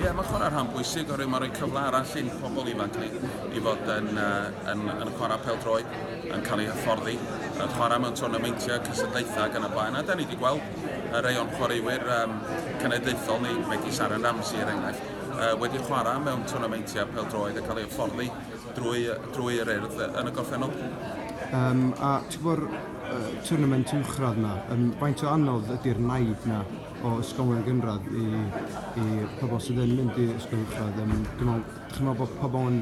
Ie, mae'n chwarae rhan bwysig oherwydd mae'n rhoi cyfle arall i'n pobl ifanc ni i fod yn, uh, yn, yn chwarae pel droed, yn cael ei hyfforddi, yn chwarae mewn twrnameintiau, cysylltaethau ac yn y blaen. A da ni wedi gweld y rei o'n chwaraewyr um, cenedlaethol ni, megis Aaron Ramsey er enghraifft, uh, wedi chwarae mewn twrnameintiau pel droed a cael ei hyfforddi drwy, drwy'r urdd yn y gorffennol. Um, a ti'n bod, uh, tournament uwchradd yna, um, faint o anodd ydy'r naid yna o ysgolion gynradd i, i pobl sydd yn mynd i ysgol uwchradd. Um, dwi'n meddwl bod pobl yn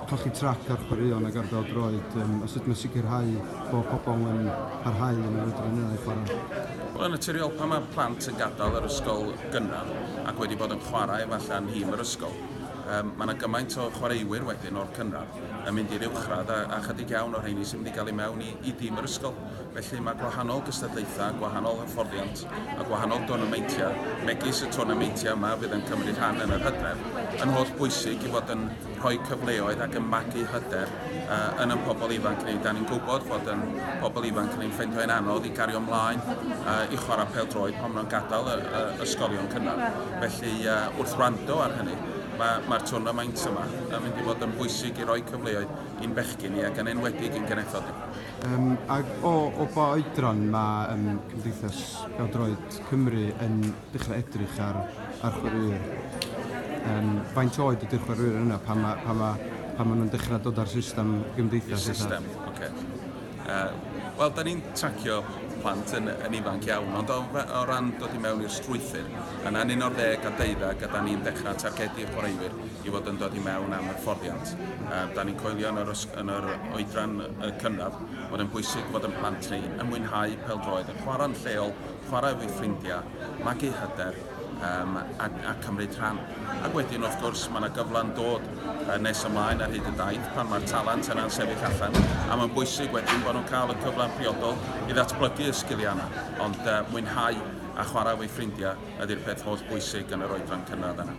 colli trac ar chwaraeon ac ar bel droed um, os ydym yn sicrhau bod pobl yn parhau yn yr ydyn nhw'n ei chwarae. Wel, yn naturiol, pan mae plant yn gadael yr ysgol gynradd ac wedi bod yn chwarae falle yn hîm yr ysgol, um, mae yna gymaint o chwaraewyr wedyn o'r cynradd yn mynd i'r uwchradd a, a chydig iawn o'r rheini sy'n mynd i gael ei mewn i, i dîm yr ysgol. Felly mae gwahanol gystadlaethau, gwahanol hyfforddiant a gwahanol dwrnameintiau, megis y twrnameintiau yma fydd yn cymryd rhan yn yr hydref, yn holl bwysig i fod yn rhoi cyfleoedd ac yn magu hyder yn ein pobl ifanc ni. Da ni'n gwybod fod yn pobl ifanc ni'n ffeindio hi'n anodd i gario ymlaen i chwarae pel droed pan maen nhw'n gadael y, y, ysgolion cynradd. Felly uh, wrth wrando ar hynny, mae'r ma, ma twrnamaint yma yn mynd i fod yn bwysig i roi cyfleoedd i'n bechgyn ni ac yn enwedig i'n genethod ni. Yym ac o o ba oedran ma' yym Cymdeithas Pêl-droed Cymru yn dechra' edrych ar ar chwaraewyr? Yym faint oed ydi'r chwaraewyr yna pan ma' pan ma' pan ma' nhw'n dechra' dod â'r system gymdeithas... I'r system, ocê. Yy wel 'dan ni'n tracio plant yn yn ifanc iawn ond o fe- o ran dod i mewn i'r strwythur yna'n un o'r ddeg a deuddag a 'dan ni'n dechra' targedu chwaraewyr i fod yn dod i mewn am hyfforddiant. Yy 'dan ni'n coelio yn yr ys- yn yr oedran y cynradd bod e'n bwysig fod yn plant ni yn mwynhau pêl-droed, yn chwarae'n lleol, chwarae efo'i ffrindiau, magu hyder um, a, a cymryd rhan. Ac wedyn, wrth gwrs, mae yna gyfle'n dod uh, nes ymlaen ar hyd y daith pan mae'r talent yna'n sefyll allan, a mae'n bwysig wedyn bod nhw'n cael y cyfle'n priodol i ddatblygu y sgiliau yna, ond uh, mwynhau a chwarae efo'i ffrindiau ydy'r peth holl bwysig yn yr oedran cynradd yna.